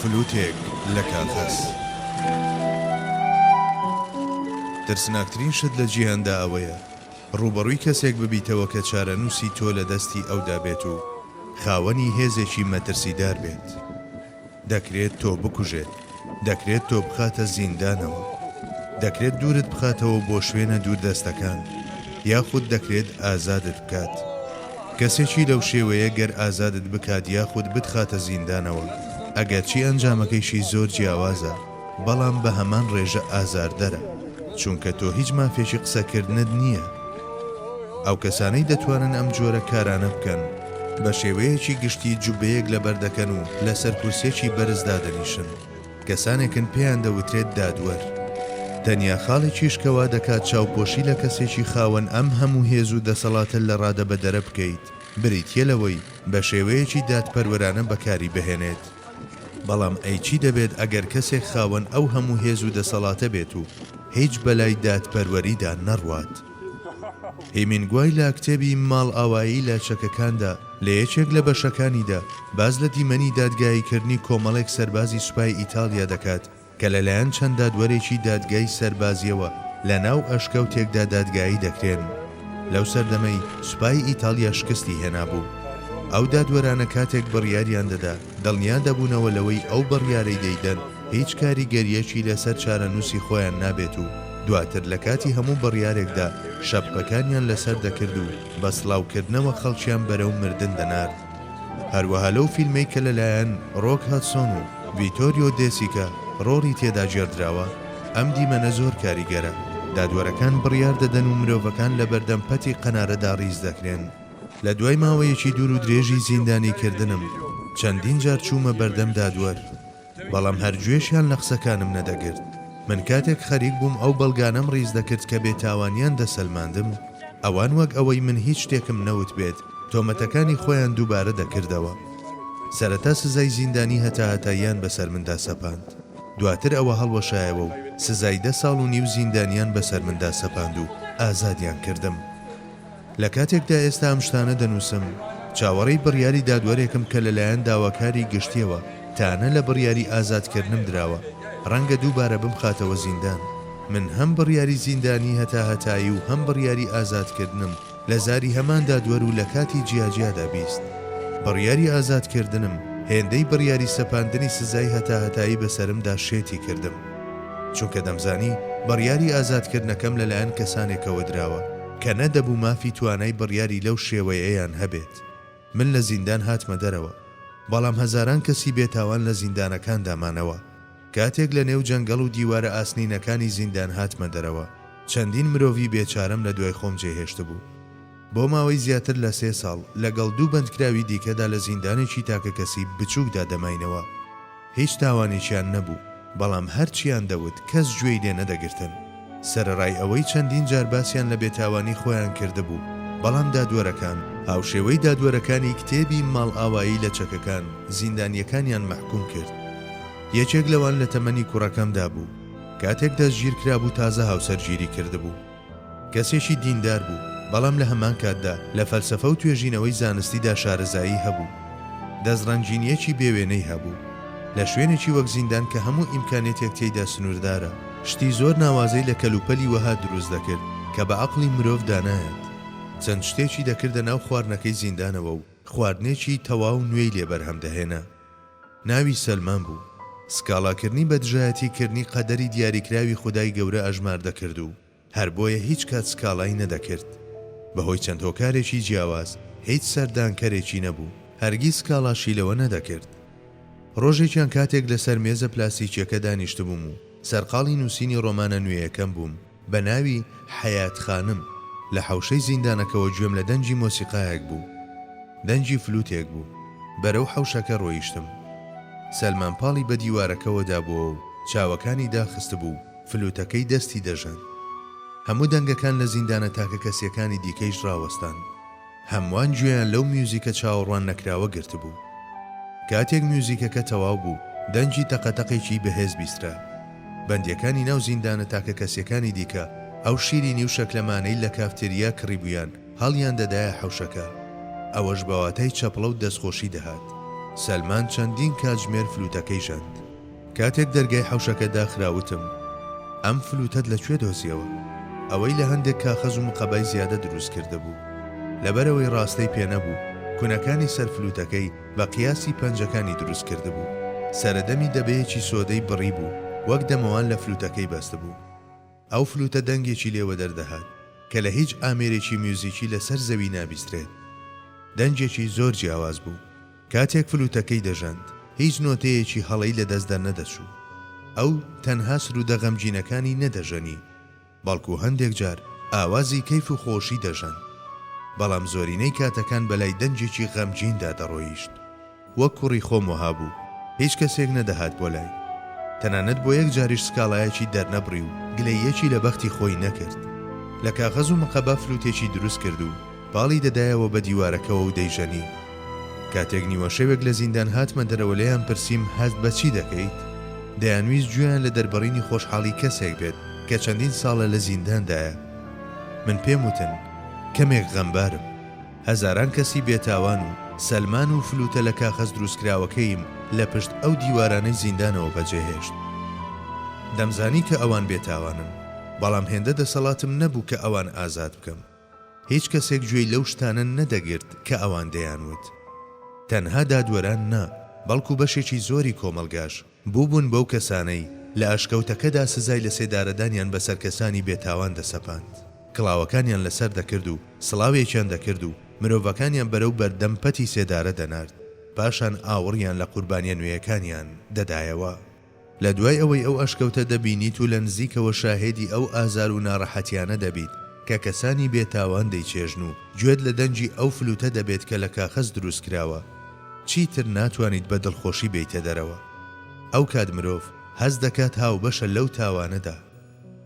فلوتێک لە کاغەز. ترسناکترین شت لە جیهاندا ئەوەیە ڕووبەڕووی کەسێک ببیتەوە کە چارەنووسی تۆ لە دەستی ئەودا بێت و خاوەنی هێزێکی مەترسیدار بێت. دەکرێت تۆ بکوژێت، دەکرێت تۆ بخاتە زیندانەوە، دەکرێت دوورت بخاتەوە بۆ شوێنە دووردەستەکان، یاخود دەکرێت ئازادت بکات. کەسێکی لەو شێوەیە گەر ئازادت بکات یاخود بتخاتە زیندانەوە، ئەگەرچی ئەنجامەکەیشی زۆر جیاوازە، بەڵام بە هەمان ڕێژە ئازاردەرە، چونکە تۆ هیچ مافێکی قسەکردنت نییە. ئەو کەسانەی دەتوانن ئەم جۆرە کارانە بکەن، بە شێوەیەکی گشتی جوببەیەک لەبەر دەکەن و لەسەر کورسیەکی بەرز دادەنیشن، کەسانێکن پێیان دەوترێت دادوەر. تەنیا خاڵێکیش کە وا دەکات چاوپۆشی لە کەسێکی خاوەن ئەم هەموو هێز و دەسەڵاتە لەڕادەبەدەرە بکەیت، بریتییە لەوەی بە شێوەیەکی دادپەروەرانە بەکاری بهێنێت. بەڵام ئەی چی دەبێت ئەگەر کەسێک خاوەن ئەو هەموو هێز و دەسەڵاتە بێت و هیچ بەلای دادپەروەریدا نەڕوات؟ هیمینگوای لە کتێبی، ماڵئاوایی لە چەکەکاندا، لە یەکێک لە بەشەکانیدا باس لە دیمەنی دادگاییکردنی کۆمەڵێک سەربازی سوپای ئیتاڵیا دەکات کە لەلایەن چەند دادوەرێکی دادگای سەربازییەوە لە ناو ئەشکەوتێکدا دادگایی دەکرێن. لەو سەردەمەی سوپای ئیتاڵیا شکستی هێنابوو. ئەو دادوەرانە کاتێک بڕیاریان دەدا، دڵنیا دەبوونەوە لەوەی ئەو بڕیارەی دەیدەن هیچ کاریگەرییەکی لەسەر چارەنووسی خۆیان نابێت و دواتر لە کاتی هەموو بڕیارێکدا شەپقەکانیان لەسەر دەکرد و بە سڵاوکردنەوە خەڵکیان بەرەو مردن دەنارد. هەروەها لەو فیلمەی کە لەلایەن ڕۆک هەدسۆن و ڤیتۆریۆ دێ سیکا ڕۆڵی تێدا گێڕدراوە، ئەم دیمەنە زۆر کاریگەرە. دادوەرەکان بڕیار دەدەن و مرۆڤەکان لە بەردەم پەتی قەنارەدا ڕیز دەکرێن. لە دوای ماوەیەکی دوور و درێژی زیندانیکردنم، چەندین جار چوومە بەردەم دادوەر. بەڵام هەر گوێشیان لە قسەکانم نەدەگرت. من کاتێک خەریک بووم ئەو بەڵگانەم ڕیز دەکرد کە بێتاوانیان دەسەلماندم، ئەوان وەک ئەوەی من هیچ شتێکم نەوتبێت، تۆمەتەکانی خۆیان دووبارە دەکردەوە. سەرەتا سزای زیندانی هەتاهەتاییان بەسەر مندا سەپاند. دواتر ئەوە هەڵوەشایەوە و سزای دە ساڵ و نیو زیندانیان بەسەر مندا سەپاند و ئازادیان کردم. لە کاتێکدا ئێستا ئەم شتانە دەنووسم، چاوەڕێی بڕیاری دادوەرێکم کە لەلایەن داواکاری گشتییەوە تانە لە بڕیاری ئازادکردنم دراوە، ڕەنگە دووبارە بمخاتەوە زیندان. من هەم بڕیاری زیندانی هەتاهەتایی و هەم بڕیاری ئازادکردنم لە زاری هەمان دادوەر و لە کاتی جیاجیادا بیست. بڕیاری ئازادکردنم هێندەی بڕیاری سەپاندنی سزای هەتاهەتایی بەسەرمدا شێتی کردم، چونکە دەمزانی بڕیاری ئازادکردنەکەم لەلایەن کەسانێکەوە دراوە. کە نەدەبوو مافی توانای بڕیاری لەو شێوەیەیان هەبێت. من لە زیندان هاتمە دەرەوە، بەڵام هەزاران کەسی بێتاوان لە زیندانەکاندا مانەوە. کاتێک لە نێو جەنگەڵ و دیوارە ئاسنینەکانی زیندان هاتمە دەرەوە، چەندین مرۆڤی بێچارەم لە دوای خۆم جێهێشتبوو. بۆ ماوەی زیاتر لە سێ ساڵ لەگەڵ دوو بەندکراوی دیکەدا لە زیندانێکی تاکەکەسی بچووکدا دەماینەوە. هیچ تاوانێکیان نەبوو، بەڵام هەرچییان دەوت کەس گوێی لێ نەدەگرتن. سەرەڕای ئەوەی چەندین جار باسیان لە بێتاوانی خۆیان کردبوو، بەڵام دادوەرەکان، هاوشێوەی دادوەرەکانی کتێبی ماڵئاوایی لە چەکەکان، زیندانییەکانیان مەحکووم کرد. یەکێک لەوان لە تەمەنی کوڕەکەمدا بوو. کاتێک دەستگیرکرابوو تازە هاوسەرگیری کردبوو. کەسێکی دیندار بوو، بەڵام لە هەمان کاتدا لە فەلسەفە و توێژینەوەی زانستیدا شارەزایی هەبوو. دەستڕەنگینییەکی بێ وێنەی هەبوو. لە شوێنێکی وەک زیندان کە هەموو ئیمکانیەتێک تێیدا سنووردارە، شتی زۆر ناوازەی لە کەلوپەلی وەها دروست دەکرد کە بە عەقڵی مرۆڤ دا نایەت. چەند شتێکی دەکردە ناو خواردنەکەی زیندانەوە و خواردنێکی تەواو نوێی لێ بەرهەم دەهێنا. ناوی سەلمان بوو. سکاڵاکردنی بە دژایەتی کردنی قەدەری دیاریکراوی خودای گەورە ئەژمار دەکرد و هەر بۆیە هیچ کات سکاڵای نەدەکرد. بە هۆی چەند هۆکارێکی جیاواز هیچ سەردانکەرێکی نەبوو. هەرگیز سکاڵاشی لەوە نەدەکرد. ڕۆژێکیان کاتێک لەسەر مێزە پلاستیکیەکە دانیشتبووم و سەرقاڵی نووسینی ڕۆمانە نوێیەکەم بووم، بە ناوی، حەیات خانم، لە حەوشەی زیندانەکەوە گوێم لە دەنگی مۆسیقایەک بوو. دەنگی فلوتێک بوو. بەرەو حەوشەکە رۆیشتم. سەلمان پاڵی بە دیوارەکەوە دابووەوە و چاوەکانی داخستبوو و فلوتەکەی دەستی دەژەن. هەموو دەنگەکان لە زیندانە تاکەکەسییەکانی دیکەیش راوەستان. هەمووان گوێیان لەو میوزیکە چاوەڕوان نەکراوە گرتبوو. کاتێک میوزیکەکە تەواو بوو، دەنگی تەقەتەقێکی بەهێز بیسترا. بەندییەکانی ناو زیندانە تاکەکەسییەکانی دیکە ئەو شیرینی و شەکلەمانەی لە کافتێریا کڕیبوویان هەڵیان دەدایە حەوشەکە. ئەوەش بە واتای چەپڵە و دەستخۆشی دەهات. سەلمان چەندین کاتژمێر فلوتەکەی ژەند. کاتێک دەرگای حەوشەکە داخرا وتم، ئەم فلوتەت لە کوێ دۆزیەوە؟ ئەوەی لە هەندێک کاخەز و مقەبای زیادە دروست کردبوو. لەبەرئەوەی ڕاستەی پێ نەبوو، کونەکانی سەر فلوتەکەی بە قیاسی پەنجەکانی دروست کردبوو. سەرەدەمی دەبەیەکی سۆدەی بڕی بوو، وەک دەمەوان لە فلوتەکەی بەستبوو. ئەو فلوتە دەنگێکی لێ وەدەر دەهات کە لە هیچ ئامێرێکی میوزیکی لە سەر زەوی نابیسترێت. دەنگێکی زۆر جیاواز بوو. کاتێک فلوتەکەی دەژەند، هیچ نۆتەیەکی هەڵەی لە دەست دەرنەدەچوو. ئەو تەنها سروودە غەمگینەکانی نەدەژەنی، بەڵکو هەندێک جار ئاوازی کەیف و خۆشی دەژەند. بەڵام زۆرینەی کاتەکان بەلای دەنگێکی غەمگیندا دەڕۆیشت. وەک کوڕی خۆم وەها بوو، هیچ کەسێک نەدەهات بۆ لای. تەنانەت بۆ یەک جاریش سکاڵایەکی دەرنەبڕی و گلەییەکی لە بەختی خۆی نەکرد. لە کاغەز و مقەبە فلوتێکی دروست کرد و پاڵی دەدایەوە بە دیوارەکەوە و دەیژەنی. کاتێک نیوەشەوێک لە زیندان هاتمە دەرەوە لێیان پرسیم هەست بە چی دەکەیت؟ دەیانویست گوێیان لە دەربڕینی خۆشحاڵی کەسێک بێت کە چەندین ساڵە لە زینداندایە. من پێم وتن کەمێک غەمبارم. هەزاران کەسی بێتاوان و سەلمان و فلوتە لە کاخەز دروستکراوەکەیم لە پشت ئەو دیوارانەی زیندانەوە بەجێهێشت. دەمزانی کە ئەوان بێتاوانن، بەڵام هێندە دەسەڵاتم نەبوو کە ئەوان ئازاد بکەم. هیچ کەسێک گوێی لەو شتانە نەدەگرت کە ئەوان دەیانوت. تەنها دادوەران نا، بەڵکو بەشێکی زۆری کۆمەڵگاش. بووبوون بەو کەسانەی لە ئەشکەوتەکەدا سزای لەسێدارەدانیان بەسەر کەسانی بێتاوان دەسەپاند، کڵاوەکانیان لەسەر دەکرد و سڵاوێکیان دەکرد و مرۆڤەکانیان بەرەو بەردەم پەتی سێدارە دەنارد، پاشان ئاوڕیان لە قوربانیە نوێیەکانیان دەدایەوە. لە دوای ئەوەی ئەو ئەشکەوتە دەبینیت و لە نزیکەوە شاهێدی ئەو ئازار و ناڕەحەتیانە دەبیت کە کەسانی بێتاوان دەیچێژن و گوێت لە دەنگی ئەو فلوتە دەبێت کە لە کاخەز دروست کراوە، چیتر ناتوانیت بە دڵخۆشی بێیتە دەرەوە. ئەو کات مرۆڤ هەست دەکات هاوبەشە لەو تاوانەدا.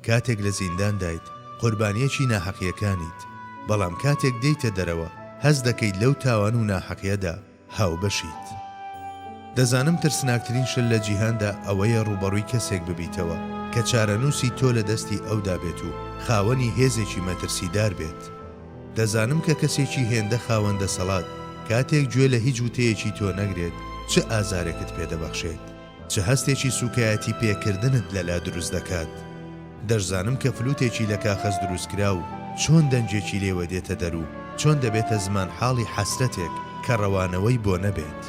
کاتێک لە زینداندایت، قوربانییەکی ناحەقییەکانیت، بەڵام کاتێک دێیتە دەرەوە، هەست دەکەیت لەو تاوان و ناحەقییەدا هاوبەشیت. دەزانم ترسناکترین شت لە جیهاندا ئەوەیە ڕووبەڕووی کەسێک ببیتەوە کە چارەنووسی تۆ لە دەستی ئەودا بێت و خاوەنی هێزێکی مەترسیدار بێت. دەزانم کە کەسێکی هێندە خاوەن دەسەڵات کاتێک گوێ لە هیچ وتەیەکی تۆ نەگرێت چ ئازارێکت پێ دەبەخشێت، چ هەستێکی سووکایەتی پێ کردنت لە لا دروست دەکات. دەشزانم کە فلوتێکی لە کاخەز دروست کراو چۆن دەنگێکی لێوە دێتە دەر و چۆن دەبێتە زمان حاڵی حەسرەتێک کە ڕەوانەوەی بۆ نەبێت.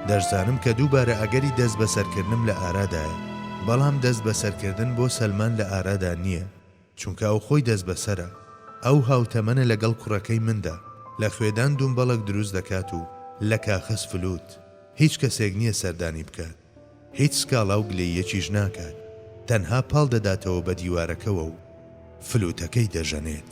دەشزانم کە دووبارە ئەگەری دەست بەسەر کردنم لە ئارادایە، بەڵام دەست بەسەر کردن بۆ سەلمان لە ئارادا نییە. چونکە ئەو خۆی دەستبەسەرە، ئەو هاوتەمەنە لەگەڵ کوڕەکەی مندا، لە خوێدان دومبەڵەک دروست دەکات و لە کاخەز فلوت، هیچ کەسێک نییە سەردانی بکات، هیچ سکاڵا و گلەییەکیش ناکات، تەنها پاڵ دەداتەوە بە دیوارەکەوە و فلوتەکەی دەژەنێت.